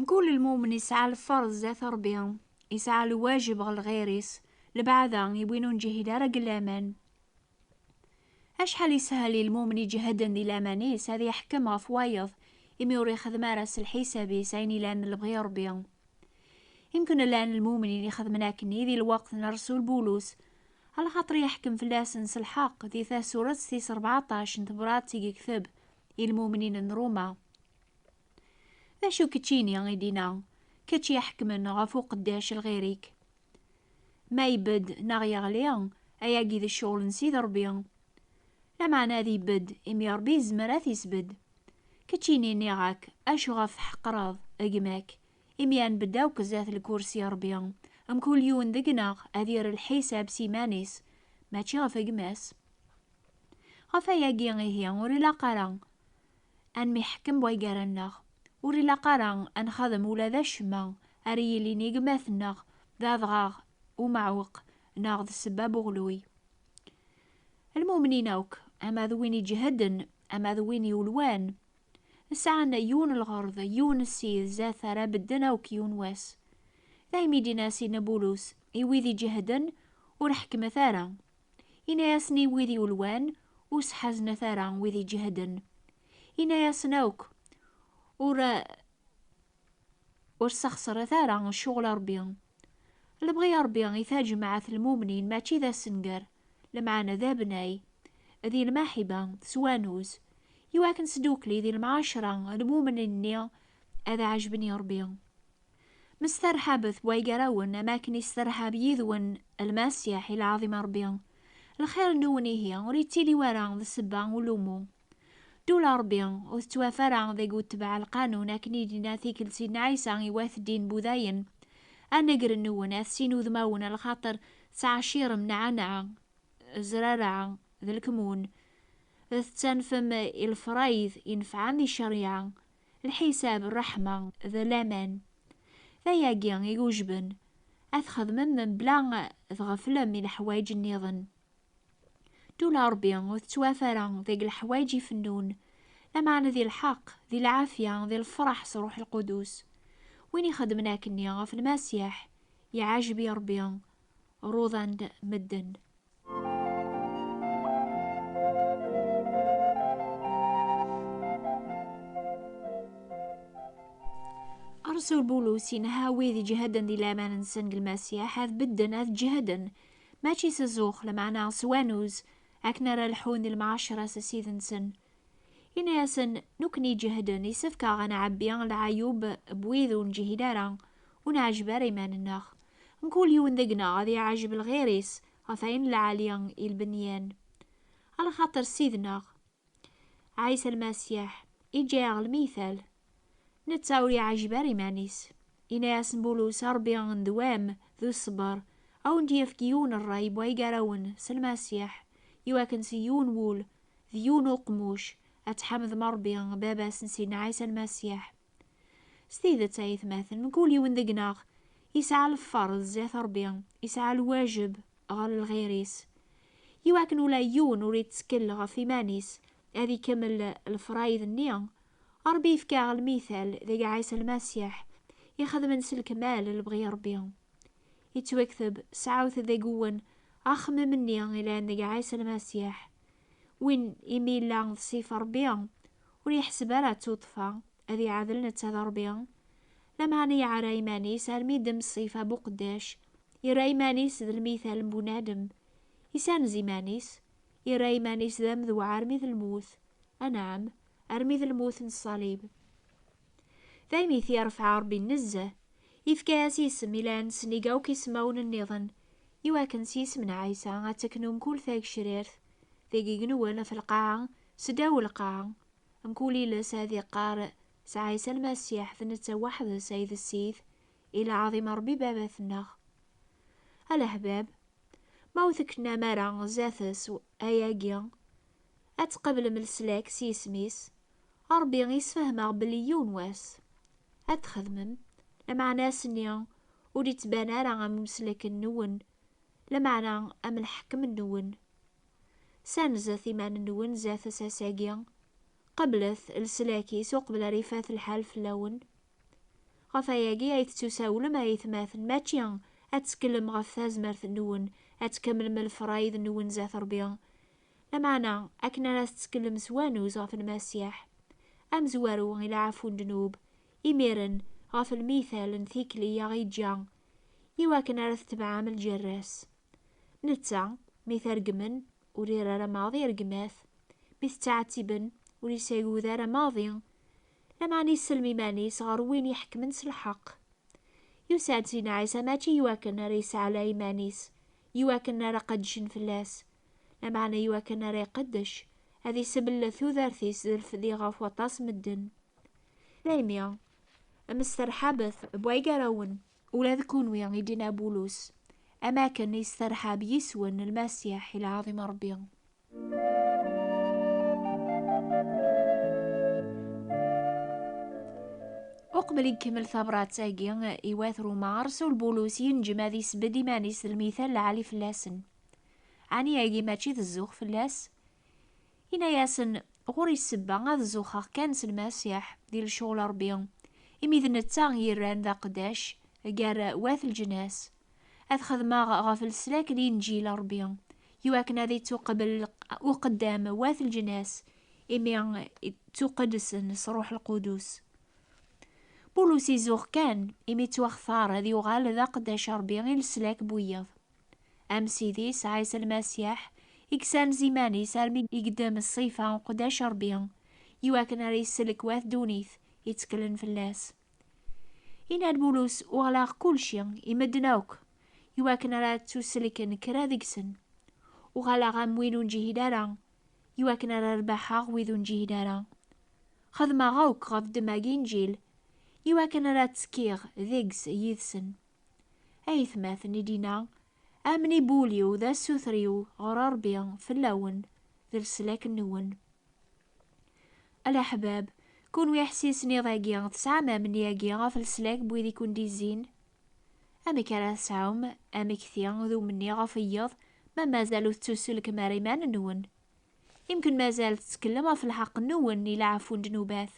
Mkul lmumen isɛa lferḍ zdat Ṛebbi, isɛa lwajeb ɣer lɣir-is, lebɛada i win ur neǧhid ara deg laman. Acḥal ishel i lmumen iǧehden di laman-is ad iḥkem ɣef wayeḍ imi ur ixeddem ara s lḥisab-is ayen ilan d lebɣi n Ṛebbi. Imken llan lmumnin ixedmen akkenni di lweqt n Ṛsul Bulus, alaxaṭer iḥkem fell-asen s lḥeqq di tasuret tis ṛebɛaṭac n tebṛat i yekteb i lmumnin n Ruma. D acu keččini i d-ina, kečč iḥekmen ɣef uqeddac lɣir-ik? Ma ibedd neɣ yeɣli, ayagi d ccɣel n Sidi Ṛebbi. Lameɛna ad ibedd, imi Ṛebbi yezmer ad t-isbedd. Keččini nniɣ-ak, acu ɣef tḥeqqreḍ gma-k? Imi ad nbedd akk zdat lkursi Ṛebbi, mkul yiwen deg-neɣ ad yerr lḥisab s iman-is, mačči ɣef gma-s. Ɣef ayagi ihi ur ilaq ara ad nemyeḥkem way gar-nneɣ. Ur ilaq ara ad nxadem ula d acemma ara yilin i gma-tneɣ d adɣaɣ umeɛweq neɣ d ssebba n uɣelluy. Lmumnin akk, ama d win iǧehden, ama d win yulwan, sɛan yiwen n lɣerḍ, yiwen n ssid zdat ara bedden akk yiwen wass. Daymi i d-yenna Sidna Bulus i wid iǧehden, Ur ḥekkmet ara, Ini-asen i wid yulwan, Ur sḥaznet ara wid iǧehden. Ini-asen akk, Ur ur sexṣret ara ccɣel a Ṛebbi. Lebɣi a Ṛebbi i taǧemɛet n lmumnin mačči d assenger, lemɛana d abnay, di lmaḥiba, s wanuz, iwakken s ddukkli di lemɛacra lmumnin-nni ad ɛejben i Ṛebbi. Msterḥabet way gar-awen am akken isterḥab yid-wen Lmasiḥ i lɛaḍima n Rebbi. Lxir-nwen ihi ur yettili wara d ssebba ulumu. Ddula n Rebbi ur tettwaf ara deg utbeɛ lqanun akken i d-yenna tikkelt Sidna Ɛisa i wat ddin Budayen, A negren-nwen at sin udmawen lxaṭer tettɛacirem nɛanɛa, zraraɛa, d lkmun, tettanfem i lefrayd inefɛen di cceryaɛa, Lḥisab, ṛṛeḥma d laman, d ayagi i yujben ad txedmem mebla ad tɣeflem i leḥwayeǧ nniḍen. Ddula n Ṛebbi ur tettwaf ara deg leḥwayeǧ ifennun, lameɛna di lḥeqq, di lɛafya, di lefṛeḥ s Ṛṛuḥ Lqudus. Win ixedmen akkenni ɣef Lmasiḥ, iɛǧeb i Ṛebbi, ruḍan-d medden. Rasul Bulus yenha wid iǧehden di laman-nsen deg Lmasiḥ ad bedden ad ǧehden, mačči s zzux, lameɛna s wanuz, akken ara lḥun di lmɛaceṛa s Ssid-nsen, Ini-asen, nekkni iǧehden, isefk-aɣ ad nɛebbi lɛayub n wid ur neǧhid ara, ur neɛjeb ara iman-nneɣ. Mkul yiwen deg-neɣ ad iɛjeb lɣir-is ɣef ayen lɛali i lbenyan. Ala xaṭer Ssid-nneɣ, Ɛisa Lmasiḥ, iǧǧa-aɣ lmiytal. Netta ur yeɛjib ara iman-is. Yenna-yasen Bulus, Ṛebbi n ddwa-m d uṣebber, a wen-d-yefk yiwen n ṛṛay n way gar-awen s Lmasiḥ, i wakken s yiwen wul d yiwen n uqemmuc ad tḥamdem Ṛebbi, Baba-s n Sidna Ɛisa Lmasiḥ. S tidet, ay atmaten, mkul yiwen deg-neɣ yesɛa lfeṛd zdat Ṛebbi, yesɛa lwajeb ɣer lɣir-is, i wakken ula yiwen ur ittkel ɣef iman-is, ad ikemmel lefṛayd-nni Ṛebbi yefka-aɣ lmital deg Ɛisa Lmasiḥ, i xedmen s lekmal lebɣi n Ṛebbi. Yettwakteb, Sɛut deg wwen axemmem-nni ilan deg Ɛisa Lmasiḥ. Win imi yella d Sif n Ṛebbi, ur yeḥseb ara d tuṭṭfa ad iɛadel netta d Ṛebbi, lameɛna yeɛra iman-is almi yeddem ṣṣif abuqeddac, yerra iman-is d lmital n bunadem, yessanez iman-is, yerra iman-is d amedwaṛ armi d lmut. Anɛam. armi d lmut n ṣṣalib. Daymi i t-yerfeɛ Ṛebbi nezzeh, yefka-as isem ilan sennig akk ismawen nniḍen, i wakken s yisem n Ɛisa ad teknu mkul tagecrirt deg igenwen ɣef lqaɛa s ddaw lqaɛa, mkul iles ad iqqar s Ɛisa Lmasiḥ d netta weḥd-s ay d Ssid, i lɛaḍima Ṛebbi Baba-tneɣ. A leḥbab, ma ur teknam ara zdat-s ayagi, Ad tqablem leslak s yisem-is, a Ṛebbi i sfehmeɣ belli yiwen wass ad t-txedmem, lameɛna ass-nni ur ittban ara am umeslak-nwen, lameɛna am lḥekem-nwen. Ssanzet iman-nwen zdat asas-agi, qablet leslak-is uqbel ara ifat lḥal fell-awen. Ɣef wayagi ay tettusawlem a aytmaten, mačči ad tetteklem ɣef tazmert-nwen ad tkemmlem lefṛayed-nwen zdat Ṛebbi, Lameɛna, akken ara tettekllem s wanuz ɣef Lmasiḥ, amezwaru i leɛfu n ddnub, imiren, ɣef lmital n tikli i aɣ-yeǧǧa, iwakken ara tetebɛem ljerra-s. Netta, mi t-reggmen, ur iri ara maḍi rregmat, mi t-ttɛettiben, ur yesɛigut ara maḍi, lameɛna isellem iman-is ɣer Win iḥekkmen s lḥeqq. Yusa-d Sidna Ɛisa mačči iwakken ara yesɛlay iman-is, iwakken ara qeddcen fell-as, Lameɛna i wakken ara iqeddec, ad iseblet tudert-is d lfedi ɣef waṭas n medden. Daymi, msterḥabet n waygarrawen, ula d kunwi, i d-yenna Bulus, am wakken i yesserḥab yiswen n Lmasiḥ i lɛaḍima n Ṛebbi. Uqbel i ikemmel tabṛat-agi i wat Ṛuma, ṛsul Bulus yenǧem ad isbedd iman-is d lmithal lɛali fell-asen. Ɛni agi mačči d zzux fell-as? Yenna-yasen, Ɣur-i ssebba ad zuxeɣ kan s Lmasiḥ di lecɣal Ṛebbi, imi d netta i yerran d aqeddac gar wat leǧnas, ad xedmeɣ ɣef leslak n Inǧil Ṛebbi, iwakken ad ittuqbel uqeddam wat leǧnas, imi ttuqedsen s Ṛuḥ Lqudus. Bulus izuxx kan, imi ttwaxtar ad yuɣal d aqeddac Ṛebbi i leslak n wiyeḍ. Am Sidi Isɛis Lmasiḥ, i yessanez iman-is armi i yeddem ṣṣifa n uqeddac n Rebbi, i wakken ara yesselk wat ddunit yetteklen fell-as. Inna-d Bulus, Uɣleɣ kulci i medden akk, i wakken ara ttuselken kra deg-sen. Uɣaleɣ am win ur neǧhid ara, i wakken ara rbaḥeɣ wid ur neǧhid ara. Xedmeɣ akk ɣef ddemma n Yinǧil, i wakken ara ttekkiɣ deg-s yid-sen. Ayetmaten i d-inna, Amnibul-iw d asuter-iw ɣer Ṛebbi fell-awen, d leslak-nwen. A leḥbab, kunwi iḥessisen iḍ-agi, tesɛam amni-agi ɣef leslak n wid i ken-d-izzin? Amek ara tesɛum amekti d umenni ɣef wiyeḍ ma mazal ur tettuselkem ara iman-nwen? Imken mazal tettekllem ɣef lḥeqq-nwen i leɛfu n ddnubat.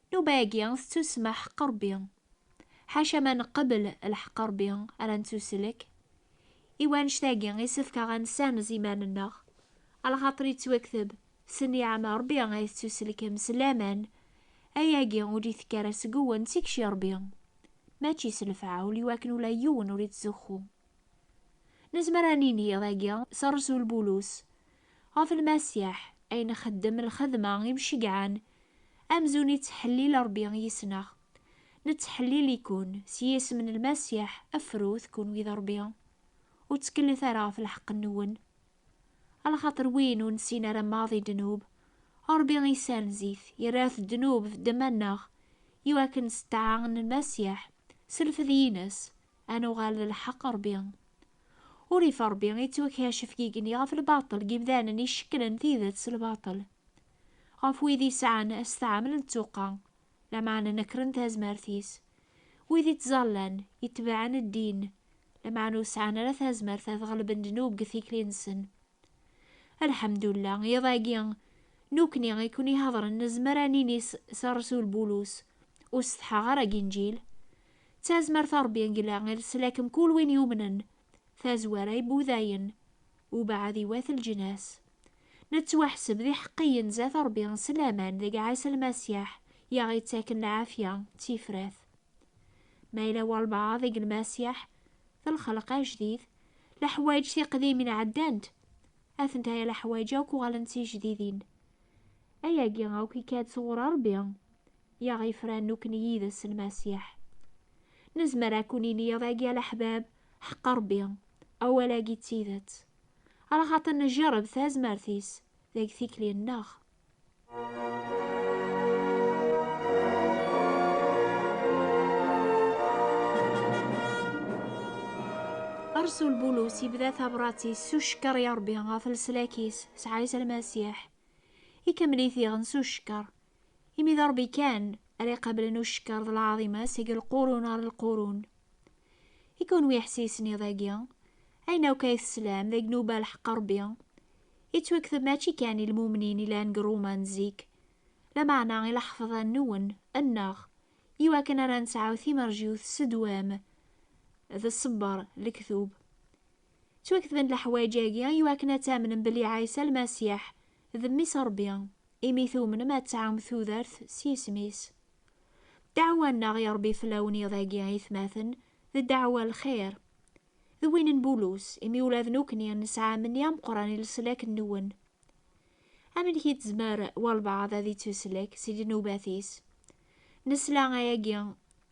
Nnuba-agi tettusemma ḥeqq Ṛebbi. Ḥaca ma neqbel lḥeqq Ṛebbi ara nettuslek. I wanect-agi isefk-aɣ ad nessanez iman-nneɣ, alaxaṭer yettwakteb s nniɛam Ṛebbi ay tettuselkem s laman, ayagi ur d-itekki ara seg-wen d tikci Ṛebbi, mačči s lefɛa ul iwakken ula yiwen ur ittzuxxu. Nezmer ad nini iḍ-agi s rresul Bulus ɣef Lmasiḥ, Ayen xeddem lxedma imceggɛen, amzun ittḥellil Ṛebbi yis-neɣ. Nettḥellil-iken s yisem n Lmasiḥ, afrut, kunwi d Ṛebbi, ur ttkellit ara ɣef lḥeqq-nwen. Alaxaṭer win ur nessin ara maḍ i ddnub, Ṛebbi issenz-it, yerra-t ddnub f ddemma-nneɣ, i wakken s ṭṭaɛa n Lmasiḥ, s lfed-ines, ad nuɣal d lḥeqq Ṛebbi. Urrif Ṛebbi ittwakacef igenni ɣef lbaṭel n yimdanen icekklen tidet s lbaṭel, ɣef wid yesɛan asṭaɛmel n ttuqqa, lameɛna nekren tazmert-is. Wid ittẓallan, itebɛen ddin, lameɛna ur sɛan ara tazmert ad ɣelben ddnub deg tikli-nsen. Lḥemdullah, iḍ-agi, nukni i ken-iḥeḍren nezmer ad nini s rresul Bulus, Ur setḥaɣ ara deg Inǧil. D tazmert n Rebbi deg lɛil selakem kul win yumnen, tazwara i Budayen, ubeɛɛed iwat leǧnas. Nettwaḥseb d iḥeqqiyen zat Ṛebbi s laman deg Ɛisa Lmasiḥ i aɣ-ittaken lɛafya d tifrat. Ma yella walebɛaḍ deg Lmasiḥ, d lxelq ajdid, leḥwayeǧ tiqdimin ɛeddant, atentaya leḥwayeǧ akk uɣalent d tijdidin. Ayagi akk ikka-d sɣur Ṛebbi, i aɣ-ifran nekkni yid-s Lmasiḥ. Nezmer ad ken-nini iḍ-agi a leḥbab, Ḥeqq Ṛebbi, awal-agi d tidet. Ala xaṭi neǧǧereb tazmert-is deg tikli-nneɣ. Rasul Bulus yebda tabrat-is s ucekker i Rebbi ɣef leslak-is s Ɛisa Lmasiḥ. Ikemmel-it diɣen s ucekker Imi d Ṛebbi kan ara iqablen ucekker d lɛaḍima seg lqurun ɣer lqurun. I kunwi iḥessisen iḍ-agi, ayen akk ay teslam d agnuba lḥeqq Ṛebbi, yettwakteb mačči kan i lmumnin yellan deg Ṛuma n zik, lameɛna i laḥefḍa-nwen, nneɣ, iwakken ara nesɛu timerjiwt s ddwam d ṣṣebber, lektub. Ttwaketben leḥwayeǧ-agi iwakken ad tamnem belli Ɛisa Lmasiḥ d Mmi-s Rebbi, imi tumnem ad tɛum tudert s yisem-is. Ddeɛwa-nneɣ i Rebbi fell-awen iḍ-agi aytmaten, d ddeɛwa n lxir. D win n Bulus, imi ula d nekkni nesɛa ammenni ameqqran i leslak-nwen. Amek i tezmer walbeɛḍ ad ittuslek si ddnubat-is? Nesla ayagi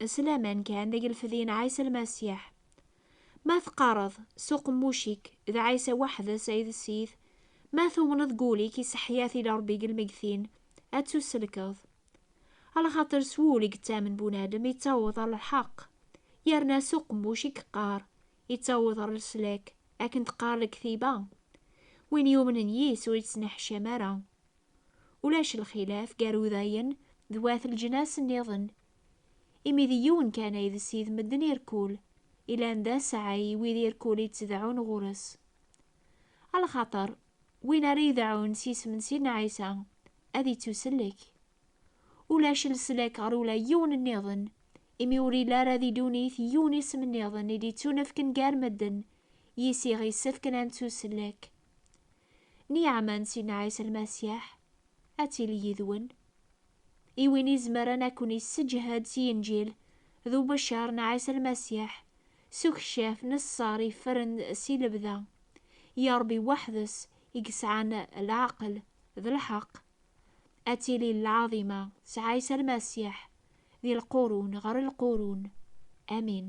s laman kan deg lfed-in Ɛisa Lmasiḥ. Ma teqqareḍ s uqemmuc-ik d Ɛisa weḥd-s ay d Sid, ma tumneḍ deg wul-ik iseḥḥya tili Rebbi deg lmeggtin, ad tusellkeḍ. Alxaṭer s wul i yettamen bunadem yettaweḍ ɣer lḥeqq, yerna s uqemmuc i yeqqar, yettaweḍ ɣer leslak, akken teqqar lektiba, Win yumnen yis ur yettneḥcam ara. Ulac lxilaf gar Udayen d wat leǧnas nniḍen Imi d yiwen kan ay d Sid medden irkul, ilan d aseɛɛi i wid irkul i ttdeɛɛun ɣur-s. A lxaṭer, win ara ideɛɛun s yisem n Sidna Ɛisa, ad ittusellek. Ulac leslak ɣer ula yiwen nniḍen, imi ur ila ara di ddunit yiwen isem nniḍen i d-ittunefken gar medden, yis iɣ isefken ad nettusellek. Nniɛama n Sidna Ɛisa Lmasiḥ ad tili yid-wen. i win izemren ad ken-isseǧhed s Yinǧil, d ubeccer n Ɛisa Lmasiḥ, s ukcaf n ṣṣer yeffren si lebda. I Ṛebbi weḥd-s i yesɛan leɛqel d lḥeqq. Ad tili lɛaḍima s Ɛisa Lmasiḥ di lqurun ɣer lqurun. Amin.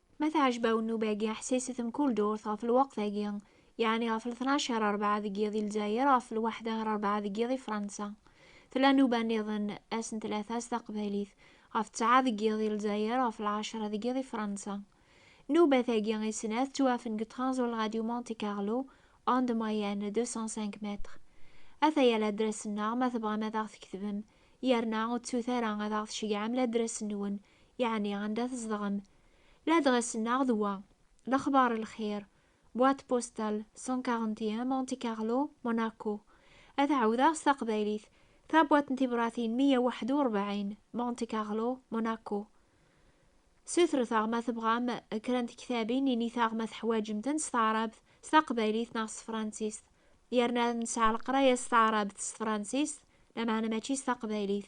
Ma tɛejba-wen nnuba-agi, ḥsiset mkul durt ɣef lweqt-agi, yeɛni ɣef ltnac ɣer rebɛa deg yiḍ i Lezzayer, ɣef lwaḥda ɣer rebɛa deg yiḍ i Fransa. Tella nnuba nniḍen, ass n tlata s taqbaylit, ɣef ttɛa deg yiḍ i Lezzayer, ɣef lɛecra deg yiḍ i Fransa. Nnubat-agi i snat ttwafen deg Tranzol Radio Monte Carlo, onde moyenne 205 mètres. Ataya ladras-nneɣ ma tebɣam ad aɣ-tketbem, yerna ur ttut ara ad aɣ-tceyyɛem ladras-nwen yeɛni anda tzedɣem. Ladɣes-nneɣ d wa, Lexbar Lxir, Boîte postale 141 Monte Carlo, Monaco. Ad t-ɛawdeɣ s taqbaylit, Tabwaṭ n tibṛatin meyya waḥed u ṛebɛin, Monte Carlo, Monaco. Sutret-aɣ ma tebɣam kra n tektabin, init-aɣ ma teḥwaǧem-ten s taɛrabt, s taqbaylit neɣ s tefransist. Yerna nesɛa leqraya s taɛrabt, s tefransist, lameɛna mačči s taqbaylit.